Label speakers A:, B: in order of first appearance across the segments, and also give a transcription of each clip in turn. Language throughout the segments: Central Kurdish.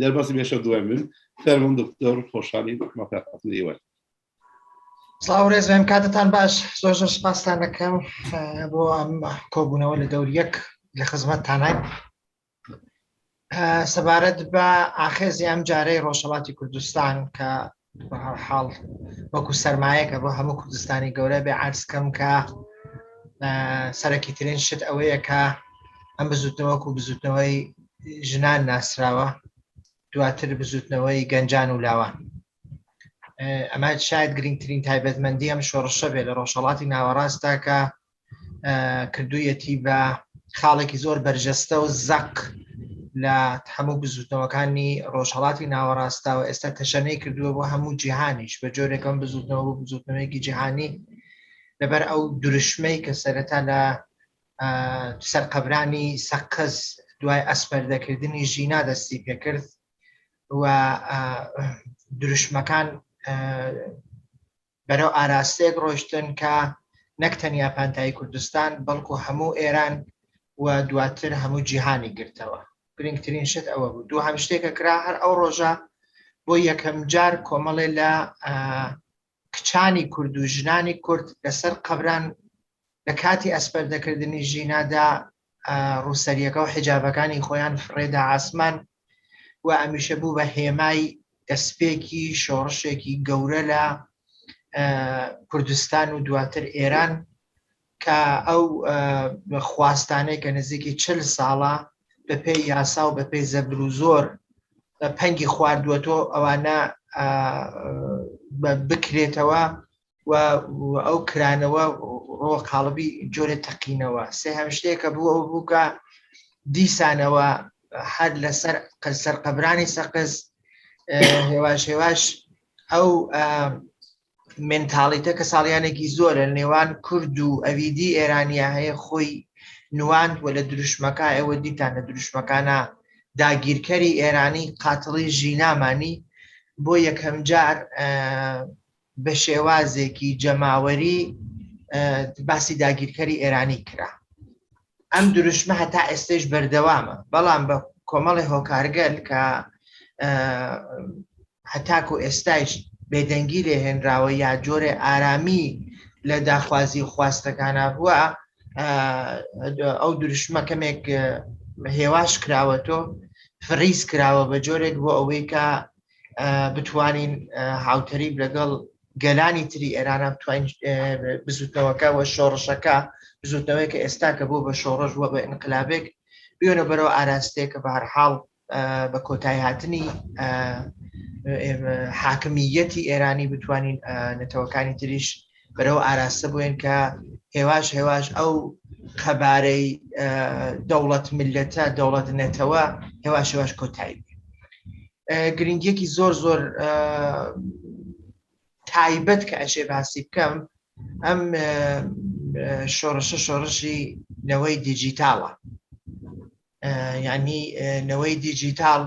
A: دەربازی بێشە دوای من فەرمون دکتۆر خۆشحالی مەتاقاتن ئێوەت
B: سڵاو ڕێز بێم کاتتان باش زۆر زۆر سپاستان دەکەم بۆ ئەم کۆبوونەوە لە دەور یەک لە خزمەت تانای سەبارەت بە ئاخێزی ئەم جارەی ڕۆژهڵاتی کوردستان کە بەهەرحاڵ وەکو سەرمایەکە بۆ هەموو کوردستانی گەورە بێ عرزکەم کە سەرەکی ترین شت ئەوەیە کە ئەم بزوتنەوەکو بزوتنەوەی ژنان ناسراوە دواتر بزوتنەوەی گەنجان و لاوان ئەمە شاید گرنگترین تایبەتمەندی ئەم شۆڕشە بێ لە ڕۆژهڵاتی ناوەڕاستە کە کردوویەتی بە خاڵێکی زۆر بەرجەستە و زەق لە هەموو بزوتنەوەکانی ڕۆژهڵاتی ناوەڕاستاوە ئێستا تەشەنەی کردووە بۆ هەموو جیهانیش بە جۆرێکم بزوتنەوە بۆ بزوتنەوەیەکی جیهانی لەبەر ئەو درشمەی کە سەرەتا لە سەرقەبرانی سەقز دوای ئەسپەردەکردنی ژینا دەستی پێکرد و درشمەکان بەرەو ئاراستەیەک ڕۆشتن کە نەک تەنیا پانتایی کوردستان بەڵکو هەموو ئێران و دواتر هەموو جیهانی گرتەوە گرنگترین شت ئەوە بوو دوو هەم شتێکە کرا هەر ئەو ڕۆژە بۆ یەکەم جار کۆمەڵێ لە کچانی کورد و ژنانی کورد لەسەر قەبران لە کاتی ئەسپەردەکردنی ژینادا ڕووسەریەکە و حجابەکانی خۆیان فڕێدا ئاسمان و ئەمیشە بوو بە هێمای دەستپێکی شۆڕشێکی گەورە لە کوردستان و دواتر ئێران کە ئەو خواستانەی کە نزیکی چل ساڵە بە پێی یاسا و بە پێی زەبر و زۆر پەنگی خواردووەتۆ ئەوانە بکرێتەوە و ئەو کرانەوە ڕۆ قاڵبی جۆرە تەقینەوە سێ هەم شتێکە بوو ئەو بووکە دیسانەوە هەر لەسەر قەسەر قەبرانی سەقز هێواش هێواش ئەو منتاڵیتە کە ساڵیانێکی زۆر لە نێوان کورد و ئەویدی ئێرانیا هەیە خۆی نواند و لە دروشمەکە ئێوە دیتان لە دروشمەکانە داگیرکەری ئێرانی قاتڵی ژینامانی بۆ یەکەم جار بە شێوازێکی جەماوەری باسی داگیرکەری ئێرانی کرا ئەم دروشمە هەتا ئێستش بەردەوامە بەڵام بە کۆمەڵی هۆکارگەل کە هەتاکو ئێستایش بێدەنگی لێ هێنراوە یا جۆرێ ئارامی لە داخوازی و خواستەکانە بووە ئەو دروشمە کەمێک هێواش کراوە تۆ فریز کراوە بە جۆرێک بۆ ئەوەی کە بتوانین هاوتەریب لەگەڵ گەلانی تری ئێرانە بتوانین بزوتنەوەکە و شۆڕشەکە بزوتنەوەی کە ئێستا کە بۆ بە شۆڕش وە بە ئینقلابێک بێنە بەرەوە ئاراستەیە کە بەهرحاڵ بە کۆتای هاتنی حاکمیەتی ئێرانی بتوانین نەتەوەکانی تریش بەرەو ئاراستە بووێن کە هێواش هێواش ئەو قەبارەی دەوڵەت ملەتە دەوڵەت نەتەوە هێواش هێواش کۆتایی گرنگیەکی زۆر زۆر تایبەت کە ئەشێ باسی بکەم ئەم شۆڕشە شۆڕشی نەوەی دیجیتاڵە یانی نەوەی دیجیتال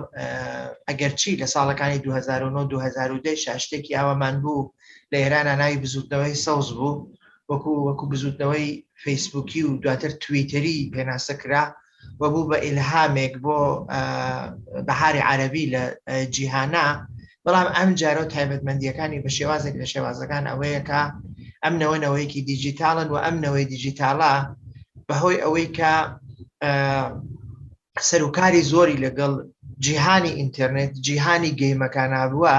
B: ئەگەرچی لە ساڵەکانی 2009 2010 شاشتێکی ئاوامان بوو لە ئێران ناوی بزوتنەوەی سەوز بوو وەکو وەکو بزوتنەوەی فەیسبووکی و دواتر تویتەری پێناسە کرا و بوو بە ئیلهامێک بۆ بەهاری عربی لە جیهانە بەڵام ئەم جارە و تایبەتمەندیەکانی بە شێوازێک لە شێوازەکان ئەوەیە کە ئەم نەوە نەوەیەکی دیجیتالن و ئەم نەوەی دیجیتالا بەهۆی ئەوەی کە سەرکاری زۆری لەگەڵ جیهانی ئینتەرنێت جیهانی گەیمەکان هارووە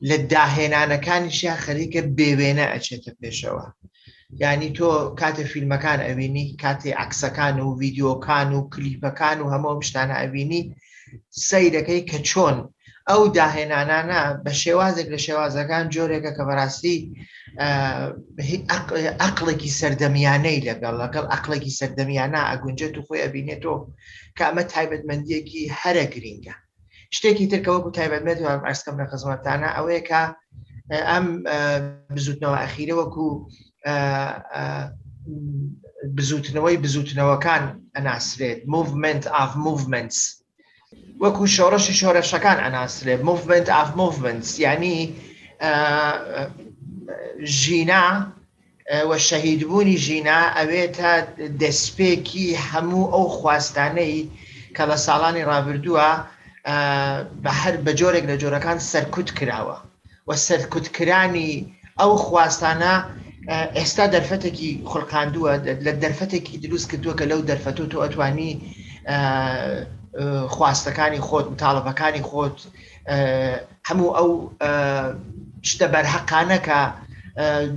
B: لە داهێنانەکانیشە خەریکە بێوێنە ئەچێتە پێشەوە یانی تۆ کاتێ فیلمەکان ئەوینی کاتێ عکسەکان و ڤیددیوکان و کلیپەکان و هەمۆم شتانە ئەوینی سەیرەکەی کە چۆن ئەو داهێنانانە بە شێوازێک لە شێوازەکان جۆرێکە کە بەڕاستی ئەقلێکی سەردەمیانەی لەگەڵ لەگەڵ ئەقلێکی سەردەمیانە ئەگونجێت و خۆی ئەبینێتەوە کامە تایبەتمەندیەکی هەرە گرینگە شتێکی تر کە وەکو تایبەتمەندی وام عرض کەم لە خزمەتتانە ئەوەیە کە ئەم بزوتنەوە ئەخیرە وەکو بزوتنەوەی بزوتنەوەکان ئەناسرێت movement of movements وەکو شۆڕشی شۆرەشەکان ئەناسرێت movement of movements یعنی ژینا و شەهیدبوونی ژینا ئەوێتە دەسپێکی هەموو ئەو خواستانەی کە لە ساڵانی ڕابردووە بە هەر بە جۆرێک لە جۆرەکان سەرکوت کراوە و سەرکوتکرانی ئەو خواستانە ئێستا دەرفەتێکی خولقاندووە لە دەرفەتێکی دروست کردووە کە لەو دەرفەت و تۆ ئەتوانی خواستەکانی خۆت تاڵەبەکانی خۆت هەموو ئەو شتە بەرهەقانە کە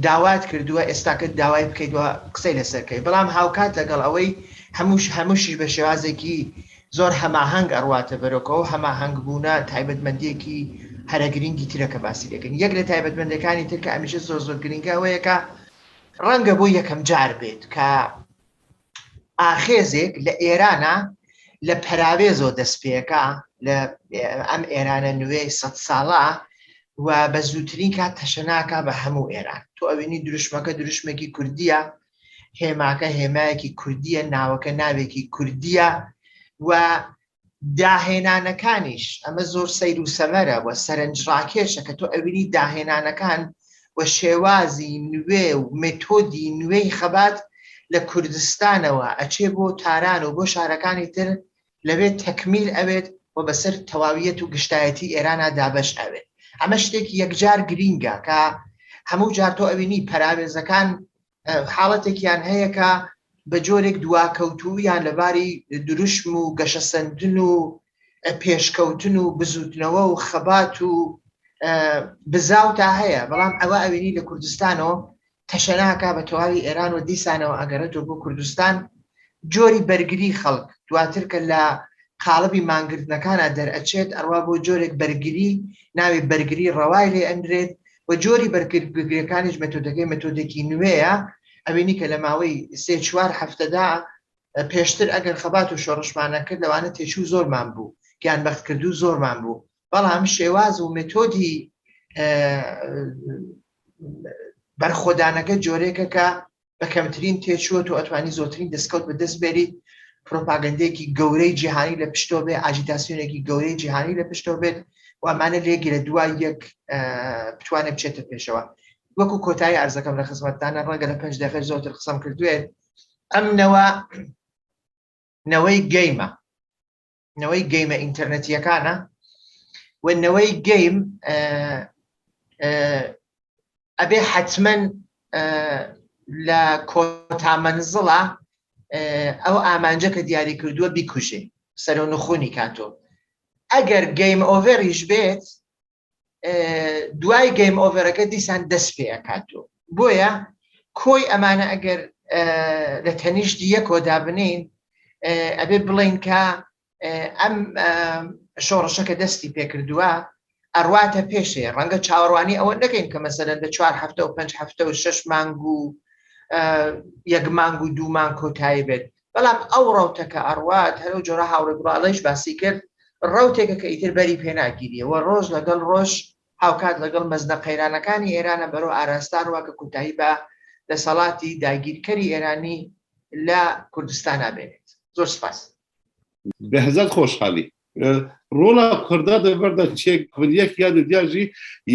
B: داوات کردووە ئێستاکە داوای بکەیت و قسەی لەسەرکەی بەڵام هاوکات لەگەڵ ئەوەی هەمووش هەمووشیش بە شێوازێکی زۆر هەماهنگ ئەڕواتە بەرۆکەوە هەماهنگ بوونە تایبەتمەندێکی هەرە گرنگی ترەکە باسی دەکەن یەک لە تایبەتمەندەکانی ترکە ئەمیشە زۆر زۆر گرنگەوەیەکە ڕەنگە بۆ یەکەم جار بێت کە ئاخێزێک لە ئێرانە لە پەراوێزەوە دەست پێەکە لە ئەم ئێرانە نوێی سە ساڵە و بە زووترین کات تەشەناکە بە هەموو ئێران تۆ ئەوینی دروشمەکە دروشمێکی کوردیە هێماکە هێمایەکی کوردیە ناوەکە ناوێکی کوردیە و داهێنانەکانیش، ئەمە زۆر سەیر و سەمەرە و سەرنجڕاکێشە کە تۆ ئەبینیت داهێنانەکان و شێوازی نوێ و مێتۆدی نوێی خەبات لە کوردستانەوە ئەچێ بۆ تاران و بۆ شارەکانی تر لەوێ تەکمیل ئەبێت و بەسەر تەواویەت و گشتایەتی ئێرانا دابەش ئەبێت. ئەمە شتێکی یەکجار گرینگە کە هەموو جار تۆ ئەبینی پەراوێزەکان حاڵەتێکیان هەیە کە بە جۆرێک دواکەوتوویان لەباری دروشم و گەشەسەندن و پێشکەوتن و بزوتنەوە و خەبات و بزااو تا هەیە بەڵام ئەوە ئەوینی لە کوردستانەوە تەشەناکە بە تەواوی ئێران و دیسانەوە ئەگەرێتەوە بۆ کوردستان جۆری بەرگری خەڵک دواتر کە لە قاڵبی مانگردنەکانە دەرئەچێت ئەڕوا بۆ جۆرێک بەرگری ناوی بەرگری ڕەوای لێ ئەنرێت و جۆری بەرگریەکانیش مەتۆدەکەی مەتۆدێکی نوێیە ئەوینی کە لە ماوەی سێ چوار هەفتەدا پێشتر ئەگەر خەبات و شۆڕشمانە کرد لەوانە تێچوو زۆرمان بوو گیان بەخت کردو زۆرمان بوو بەڵام شێواز و متۆدی بەرخۆدانەکە جۆرێکە کە بە کەمترین تێچووە تۆ ئەتوانی زۆرترین دەستکەوت بە دەست بێریت پرۆپاگەندێکی گەورەی جیهانی لە پشتۆ بێ ئاجیتاسیۆنێکی گەورەی جیهانی لە پشتۆ بێت وامانە لێگرە دوای یەک بتوانێت بچێتە پێشەوە وەکو کۆتایی ئارزەکەم لە خزمەتدانە ڕەنگە لە پێنج دەخێ زۆرتر قسەم کردوێت ئەم نەوە نەوەی گەیمە نەوەی گەیمە ئینتەرنەتیەکانە و نەوەی گەیم ئەبێ حتمما لە کۆتامەنزڵە ئەو ئامانجە کە دیاری کردووە بیکوژێ سەرۆ نخونی کاتۆ ئەگەر گەیم ئۆڤێریش بێت دوای گەیم ئۆڤەرەکە دیسان دەست پێ ئەکات و بۆیە کۆی ئەمانە ئەگەر لە تەنیشت یەکۆدا بنین ئەبێ بڵین کە ئەم شۆڕشەکە دەستی پێکردووە ئەڕواتە پێشێ ڕەنگە چاوەڕوانی ئەوە نەکەین کە مەسەرەن لە چوار هەفتە و پێنج هەفتە و شش مانگ و یەک مانگ و دوومان کۆتایی بێت بەڵام ئەو ڕەوتە کە ئەڕوات، هەر ئەو جۆرە هاوڕێ گوڵاڵەیش باسی کرد، ڕەوتێکە کە ئیتر بەری پێ ناگیریە و ڕۆژ لەگەڵ ڕۆژ هاوکات لەگەڵ مەزنە قەیرانەکانی ئێرانە بەرەو ئاراستە ڕوا کە کۆتایی بە دەسەڵاتی داگیرکەری ئێرانی لە کوردستانا بێنێت. زۆر سپاس. بەهزاد
A: خۆشحالی ڕۆڵا کوردە دەبەردە چێک کوردیەک یا دیاژی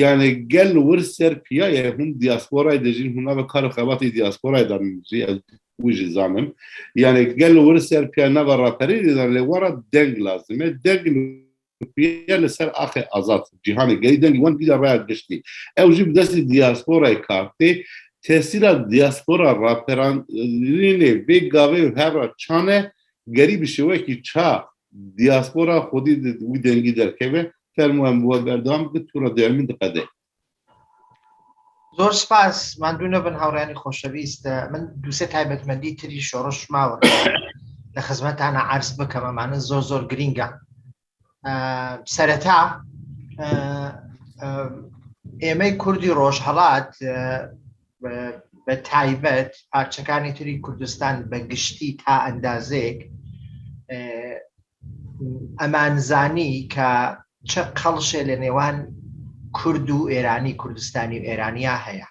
A: یانە گەل ور سەر پیاە هەم دیاسپۆرای دەژین هەما بە کار و خەباتی دیاسپۆرای دەژی وژی زانم یانە گەل ور سەر پیا نەبە ڕاپەری دەدان لێ وەڕە دەنگ لازمێ دەنگ لەسەر ئاخێ ئازاد جیهانی گەی دەنگی وەن بیدە ڕای گشتی ئەو ژی بدەستی دیاسپۆرای کارتێ تەسیرا دیاسپۆرا ڕاپەران لێ بێ گاوێ هەڕە چانە گەری بشێوەیەکی چا دیاسپۆرا خودی وی دەنگی دەرکەێ فەرموان بووە بەردەوام بکە تووڕە دەمین دقەدەێ
B: زۆر سپاس مادوو نەبن هاوڕانی خۆشەویست من دووسێ تایبەتمەندی تری شۆڕش ماوە لە خزمەتانە عرس بکەم ئەمانە زۆر زۆر گرینگە سەرەتا ئێمەی کوردی ڕۆژهڵات بە تایبەت پارچەکانی تری کوردستان بە گشتی تا ئەندازێک ئەمانزانی کە چ قەڵشێ لە نێوان کورد و ئێرانی کوردستانی و ئێرانیا هەیە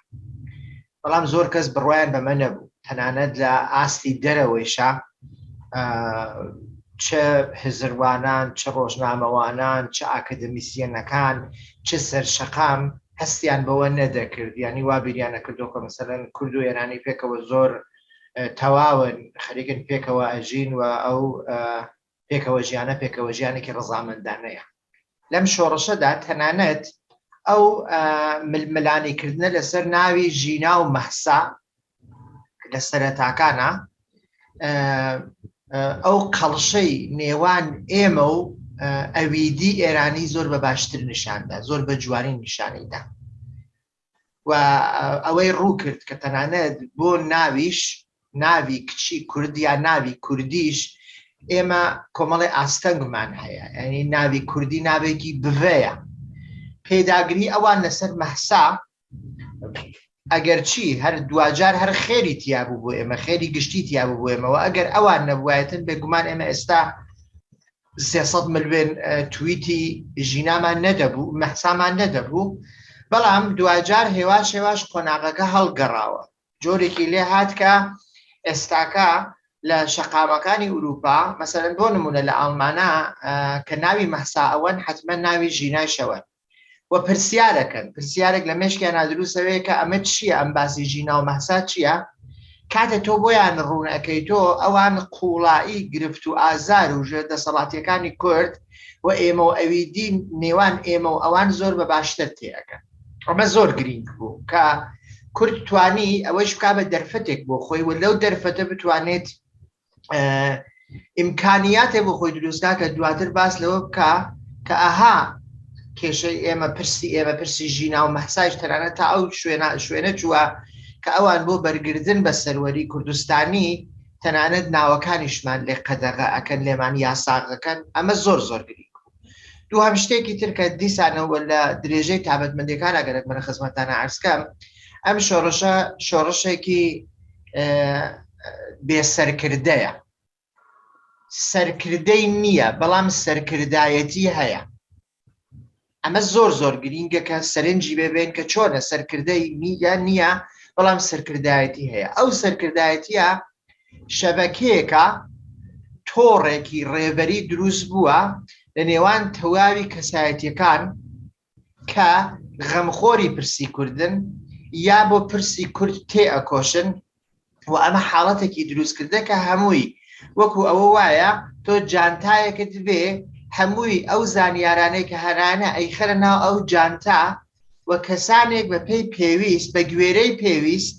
B: بەڵام زۆر کەس بڕوایان بەمە نەبوو تەنانەت لە ئاستی دەرەوەیشە چ هزروانان چ ڕۆژنامەوانان چ ئاکادمیسیەنەکان چ سەر شەقام هەستیان بەوە نەدەکرد یانی وا بیریان نەکردو کە مەسەلەن کورد و ئێرانی پێکەوە زۆر تەواون خەریکن پێکەوە ئەژین و ئەو پێکەوە ژیانە پێکەوە ژیانێکی ڕزامەندانەیە لەم شۆڕشەدا تەنانەت ئەو ململانیکردنە لەسەر ناوی ژینا و مەحسا لە سەرەتاکانە ئەو قەڵشەی نێوان ئێمە و ئەویدی ئێرانی زۆر بە باشتر نیشاندا زۆر بە جوانی نیشانیدا و ئەوەی ڕوو کرد کە تەنانەت بۆ ناویش ناوی کچی کوردیا ناوی کوردیش ئێمە کۆمەڵی ئاستەنگمان هەیە ئەنی ناوی کوردی ناوێکی بڤەیە پێداگری ئەوان لەسەر مەحسا ئەگەرچی هەر دواجار هەر خێری تیابوو بۆ ئێمە خێری گشتی تیابوو بۆ ئێمەوە ئەگەر ئەوان نەبوایەتن بێگومان ئێمە ئێستا 300 ملوێن تویتی ژینامان نەدەبوو مەحسامان نەدەبوو بەڵام دواجار هێواش هێواش قۆناغەکە هەڵگەڕاوە جۆرێکی لێ هاتکە ئێستاکە لە شەقامەکانی ئوروپا مەسەرەن بۆ نمونە لە ئاڵمانە کە ناوی مەحسا ئەوەن حتممە ناوی ژینای شەوە و پرسیارەکەن پرسیارێک لە مشکیان نادروستەوەیە کە ئەمە چییە ئەم باسی ژینا و مەسا چییە کاتە تۆ بۆیان ڕوونەکەی تۆ ئەوان قوڵایی گرفت و ئازار و ژێر دەسەڵاتیەکانی کورد و ئێمە و ئەوی دین نێوان ئێمە و ئەوان زۆر بە باشتر تێەکەن ئەمە زۆر گرنگ بوو کە کورد توانی ئەوەش بک بە دەرفەتێک بۆ خۆی و لەو دەرفەتە بتوانێت ئیمکانیاتێ بۆ خۆی دروستکە کە دواتر باس لەوە بکە کە ئەها کێشەی ئێمە پرسی ئێمە پرسی ژینا و مەحسایش تەرانە تا ئەو شوێنە شوێنە چووە کە ئەوان بۆ بەرگردن بە سەروەری کوردستانی تەنانەت ناوەکانیشمان لێ قەدەغە ئەکەن لێمان یاساغەکەن ئەمە زۆر زۆر گرنگ بوو دووهەم شتێکی تر کە دیسانەوە لە درێژەی تابەتمەندەکان ئەگەرەک منە خزمەتانە ئارسکەم ئەم شۆڕشە شۆڕشێکی بێسەرکردەیە سەرکردەی نییە بەڵام سەرکردایەتی هەیە ئەمە زۆر زۆر گرینگە کە سەرنجی ببێن کە چۆنە سەرکردەی نیگە نییە بەڵام سەرکردایەتی هەیە ئەو سەرکردایەتە شەبەکەیەکە تۆڕێکی ڕێبەری دروست بووە لە نێوان تەواوی کەسایەتیەکان کە غەمخۆری پرسی کوردن یا بۆ پرسی کورد تێ ئەکۆشن و ئەمە حاڵەتێکی دروستکردە کە هەمووی وەکو ئەوە وایە تۆ جانتایەکت بێ هەمووی ئەو زانیارانەی کە هەرانە ئەیخەرە ناو ئەو جانتا و کەسانێک بە پێی پێویست بە گوێرەی پێویست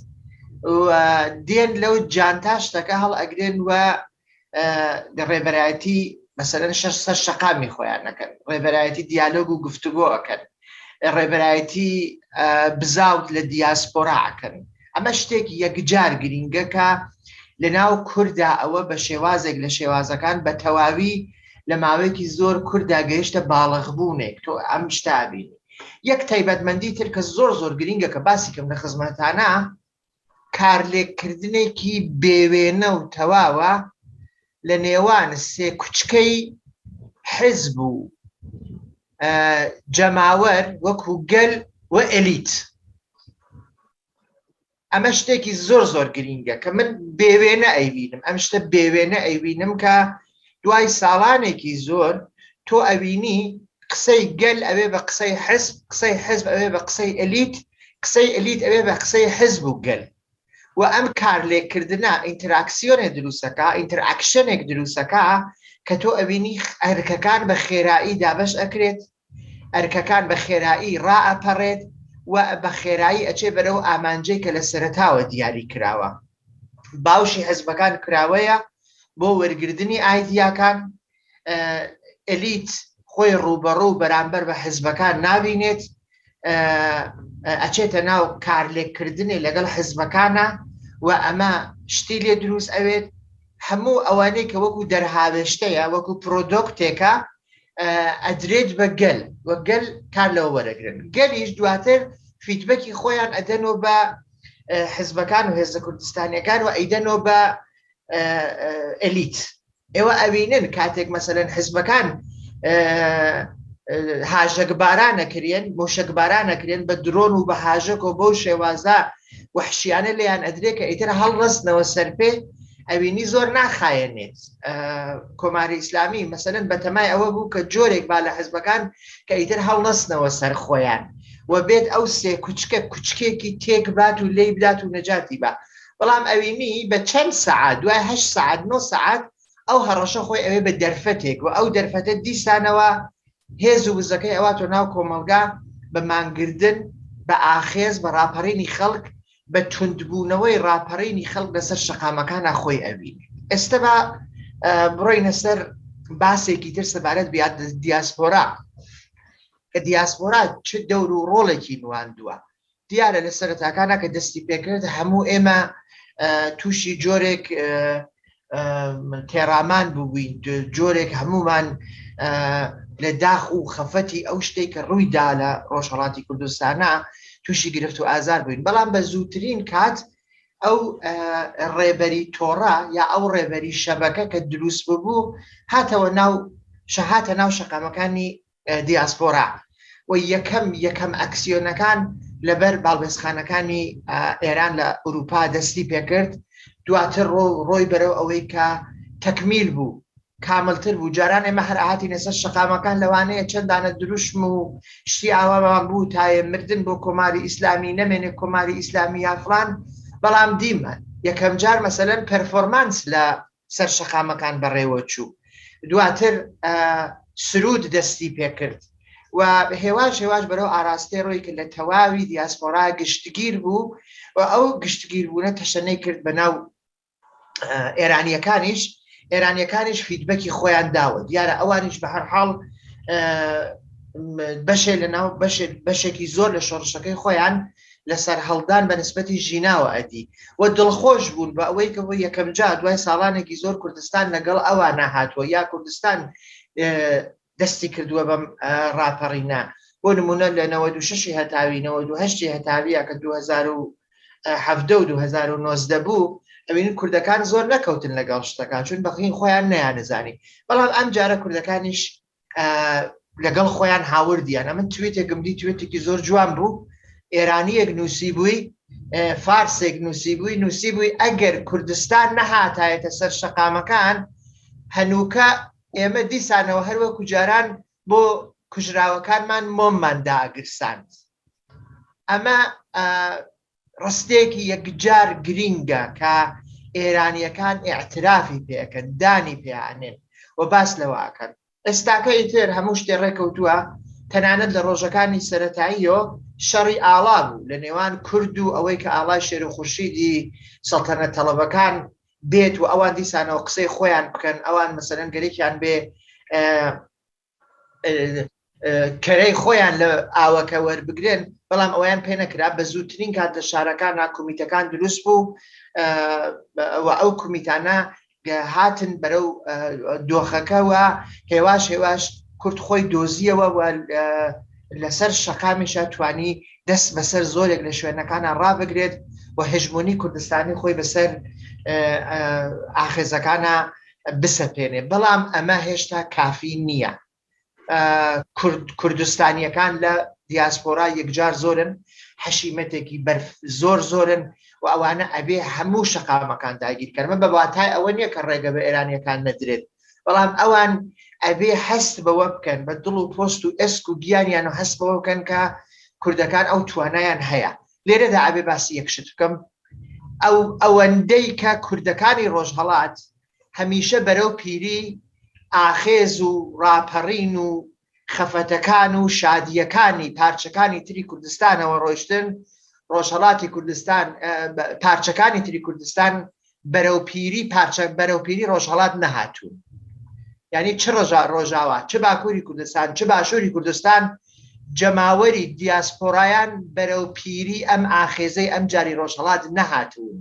B: دێن لەو جانتا شتەکە هەڵ ئەگرێن و ڕێبەرایەتی مەسەرەن شەش سەر شەقامی خۆیان نەکەن ڕێبەرایەتی دیالۆگ و گفتوگۆ ئەکەن ڕێبەرایەتی بزاوت لە دیاسپۆرا ئەکەن ئەمە شتێک یەکجار گرینگەکە لە ناو کوردا ئەوە بە شێوازێک لە شێوازەکان بە تەواوی لە ماوەیەکی زۆر کوردا گەیشتە باڵغبوونێک تۆ ئەم شتابینی یەک تایبەتمەندی تر کە زۆر زۆر گرینگە کە باسی کەم لە خزمەتانە کارلێککردنێکی بێوێنە و تەواوە لە نێوان سێ کوچکەی حزب و جەماوەر وەکو گەل و ئەلیت ئەمە شتێکی زۆر زۆر گرینگە کە من بێوێنە ئەیبینم ئەم شتە بێوێنە ئەیبینم کە دوای ساڵانێکی زۆر تۆ ئەوینی قسەی گەل ئەوێ بە قسەی حزب قسەی حزب ئەوێ بە قسەی ئەلیت قسەی ئەلیت ئەوێ بە قسەی حزب و گەل و ئەم کار لێکردە ئینتراکسیۆنێ دروستەکە ئینتراکشنێک دروستەکە کە تۆ ئەوینی ئەرکەکان بە خێرایی دابش ئەکرێت ئەرکەکان بە خێرایی ڕائەپەڕێت و بە خێرایی ئەچێ بەرەو ئامانجەی کە لە سەرەتاوە دیاری کراوە. باوشی حزبەکان کراوەیە بۆ وەرگردنی ئایدیاکان، ئەلیت خۆی ڕووبەڕوو بەرامبەر بە حزبەکان نابینێت، ئەچێتە ناو کارلێککردنێ لەگەڵ حزبەکانا و ئەمە شتی لێ دروست ئەوێت، هەموو ئەوانەی کە وەکو دەرهاوێشتەیە، وەکو پرۆدۆکتێکە، ئەدرێت بە گەل و گەل کار لەوە وەرەگرن گەلیش دواتر فیدبەکی خۆیان ئەدەنەوە بە حزبەکان و هێزە کوردستانیەکان و ئەیدەنەوە بە ئەلیت ئێوە ئەوینن کاتێک مەسەن حزبەکان هاژەکبارانە کرێن مشکبارانە کرێن بە درۆن و بە هاژەکەەوە بەو شێوازە وحشیانە لێیان ئەدرێ کە ئیتر هەڵڕستنەوە سەر پێ ئەوینی زۆر ناخایەنێت کۆماری ئیسلامی مەسەن بەتەمای ئەوە بوو کە جۆرێک با لە حزبەکان کە ئیتر هەڵنەستنەوە سەر خۆیان و بێت ئەو سێ کوچکە کوچکێکی تێک بات و لی بدات و نەجاتی بە بەڵام ئەوینی بە چەند سعات دوای هە سعات نۆ سعات ئەو هەڕەشە خۆی ئەوێ بە دەرفەتێک و ئەو دەرفەتە دیسانەوە هێز و وزەکەی ئەوە تۆ ناو کۆمەلگا بە مانگردن بە ئاخێز بە ڕاپەڕینی خەڵک بە توندبوونەوەی ڕاپەڕینی خەڵک لەسەر شەقامەکانە خۆی ئەوینێت ئێستا بە بڕۆینە سەر باسێکی تر سەبارەت بیاد دیاسپۆرا کە دیاسپۆرا چ دەور و ڕۆڵێکی نواندووە دیارە لە سەرتاکانە کە دەستی پێکرد هەموو ئێمە تووشی جۆرێک تێڕامان ببووین جۆرێک هەمومان لە داخ و خەفەتی ئەو شتێک کە ڕوویدا لە ڕۆژهڵاتی کوردستانە تووشی گرفت و ئازار بووین بەڵام بە زووترین کات ئەو ڕێبەری تۆڕە یا ئەو ڕێبەری شەبەکە کە دروست ببوو هاتەوە ناو شەهاتە ناو شەقامەکانی دیاسپۆرا و یەکەم یەکەم ئەکسیۆنەکان لەبەر باڵبێزخانەکانی ئێران لە ئوروپا دەستی پێکرد دواتر ڕۆ ڕۆی بەرەو ئەوەی کە تەکمیل بوو کاملتر بوو جاران ئێمە هەر ئاهاتی نەسەر شقامەکان لەوانەیە چەندانە دروشم و شتی ئاوامان بوو تاێ مردن بۆ کۆماری ئیسلامی نەمێنێ کۆماری ئیسلامی یافران بەڵام دیمە یەکەم جار مەسەەن پەرفۆرمانس لە سەر شەقامەکان بەڕێوە چوو. دواتر سروود دەستی پێ کرد و هێواش هێواش بەرەو ئاراستەی ڕۆی کە لە تەواوی دیاسپۆرا گشتگیر بوو و ئەو گشتگیربوونە تەشەنەی کرد بە ناو ئێرانیەکانیش ئێرانیەکانیش فیدبەکی خۆیان داوە دیارە ئەوانیش بە هەر حاڵ بەشێ لە ناو بەشێکی زۆر لە شۆڕشەکەی خۆیان لە سەرهەڵدان بە نسبەتی ژیناوە ئەدی و دڵخۆش بوون بە ئەوەی کە بۆ یەکەم جار دوای ساڵانێکی زۆر کوردستان لەگەڵ ئەوانە هاتووە یا کوردستان دەستی کردووە بەم ڕاپەڕینە بۆ نمونە لە نەوە دو ششی هەتاوی نەوە دو هەشتی هەتاویە کە 2010 2009 بوو ئەوین کوردەکان زۆر نەکەوتن لەگەڵ شتەکان چون بەخین خۆیان نیانزانی بەڵام ئەم جارە کوردەکانیش لەگەڵ خۆیان هاوردیان ئەمن توێتێکم دی توێتێکی زۆر جوان بوو ئێرانیەک نووسی بووی فارسێک نووسی بووی نووسی بووی ئەگەر کوردستان نەهاتایەتە سەر شەقامەکان هەنووکە ئێمە دیسانەوە هەروەکو جاران بۆ کوژراوەکانمان مۆممان داگرساند ئەمە ڕستێکی یەکجار گرینگە کە ئێرانییەکان ئیعترافی پێ ئەکەن، دانی پێ ئەنێن و باس لەوە ئەکەن. ئێستاکە ئیتر هەموو شتێ ڕێ کەوتووە، تەنانەت لە ڕۆژەکانی سەرەتاییەوە شەڕی ئاڵا بوو لە نێوان کورد و ئەوەی کە ئاڵای شێر و خورشیدی سەڵتەنەت تەڵەبەکان بێت و ئەوان دیسانەوە قسەی خۆیان بکەن، ئەوان مەسەلەن گەرەکیان بێ کەرەی خۆیان لە ئاوەکە وەربگرن بەڵام ئەویان پێ نەکرا بە زووترین کات لە شارەکان ناکومیتەکان دروست بوو ئەو کومیتانە هاتن بەرەو دۆخەکەەوە هێواش هێواش کورت خۆی دۆزیەوە لەسەر شەقامیشە توانی دەست بەسەر زۆرێک لە شوێنەکانە ڕابگرێت و هژمونی کوردستانی خۆی بەسەر ئاخێزەکانە بسەپێنێ بەڵام ئەمە هێشتا کافی نییە کوردستانیەکان لە دیاسپۆرا یەکجار زۆرن حەشیمەتێکی بەرف زۆر زۆرن و ئەوانە ئەبێ هەموو شەقامەکان داگیرکەمە بە واتای ئەوە نییە کە ڕێگە بە ئێرانیەکان نەدرێت بەڵام ئەوان ئەبێ هەست بەوە بکەن بە دڵ و پۆست و ئێسک و گیانیان و هەست بەوە بکەن کە کوردەکان ئەو توانایان هەیە لێرەدا ئەبێ باسی یەک شت بکەم ئەو ئەوەندەی کە کوردەکانی ڕۆژهەڵات هەمیشە بەرەو پیری ئاخێز و ڕاپەڕین و خەفەتەکان و شادیەکانی پارچەکانی تری کوردستانەوە ڕۆشتن ڕۆژهڵاتی کوردستان پارچەکانی تری کوردستان بەرەو پیری پارچە بەرەو پیری ڕۆژهڵات نەهاتوو ینی چ ڕژا ڕۆژاوا چ باکووری کوردستان چ باشووری کوردستان جەماوەری دیاسپۆرایان بەرەو پیری ئەم ئاخێزەی ئەم جاری ڕۆژهڵات نەهاتوون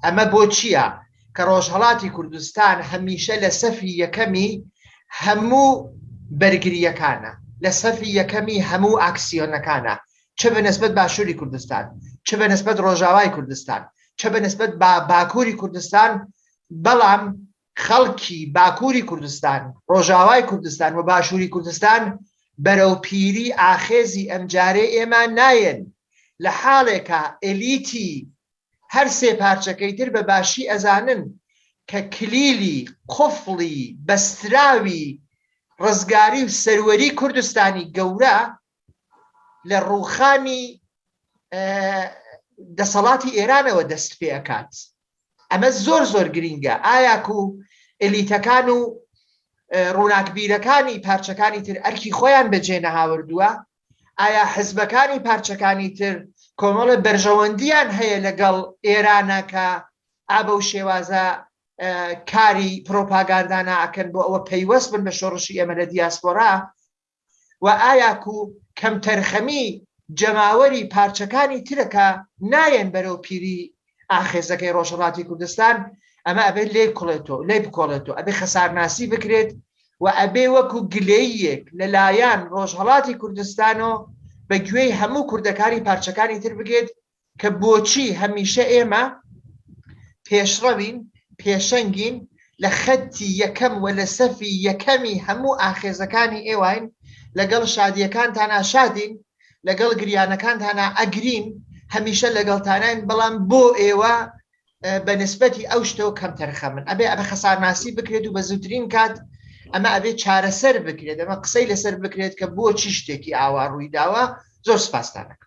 B: ئەمە بۆ چییە کە ڕۆژهڵاتی کوردستان هەمیشە لە سەفی یەکەمی هەموو بەرگریەکانە لە سەفی یەکەمی هەموو ئاکسیۆنەکانە چ بە نسبەت باشووری کوردستان چ بە نسبەت ڕۆژاوای کوردستان چ بە نسبەت با باکووری کوردستان بەڵام خەڵکی باکووری کوردستان ڕۆژاوای کوردستان و باشووری کوردستان بەرەو پیری ئاخێزی ئەمجارێ ئێمە نایەن لە حاڵێکە ئەلیتی هەر سێ پارچەکەی تر بە باشی ئەزانن کە کلیلی قفڵی بەستراوی ڕزگاری و سەروەری کوردستانی گەورە لە ڕووخانی دەسەڵاتی ئێرانەوە دەست پێ ئەکات ئەمە زۆر زۆر گرینگە ئایاک و ئەلیتەکان و ڕووناکبیرەکانی پارچەکانی تر ئەرکی خۆیان بەجێ نەهاوردووە ئایا حزبەکانی پارچەکانی تر کۆمەڵە بەرژەوەندیان هەیە لەگەڵ ئێرانە کە ئابە و شێوازە کاری پرۆپاگاندانە ئەکەن بۆ ئەوە پەیوەست بن بە شۆڕشی ئێمە لە دیاسپۆرا و ئایا کو کەمتەرخەمی جەماوەری پارچەکانی ترە کە نایەن بەرەو پیری ئاخێزەکەی ڕۆژهەڵاتی کوردستان ئەمە ئەبێت لێ کوڵێتەوە لێ بکۆڵێتەوە ئەبێ خەسارناسی بکرێت و ئەبێ وەکو گلەیەک لەلایەن ڕۆژهەڵاتی کوردستان و بە گوێی هەموو کوردەکانی پارچەکانی تر بگێت کە بۆچی هەمیشە ئێمە پێشڕەوین پێشەنگین لە خەتی یەکەم و لە سەفی یەکەمی هەموو ئاخێزەکانی ئێواین لەگەڵ شادیەکانتانا شادین لەگەڵ گریانەکانتانا ئەگرین هەمیشە لەگەڵتانین بەڵام بۆ ئێوە بە نسبەتی ئەو شتەوە کەم تەرخە من ئەبێ ئەبە خەسارناسی بکرێت و بە زووترین کات ئەمە ئەبێ چارەسەر بکرێت ئەمە قسەی لەسەر بکرێت کە بۆ چی شتێکی ئاوا ڕووی داوە زۆر سپاستانەکە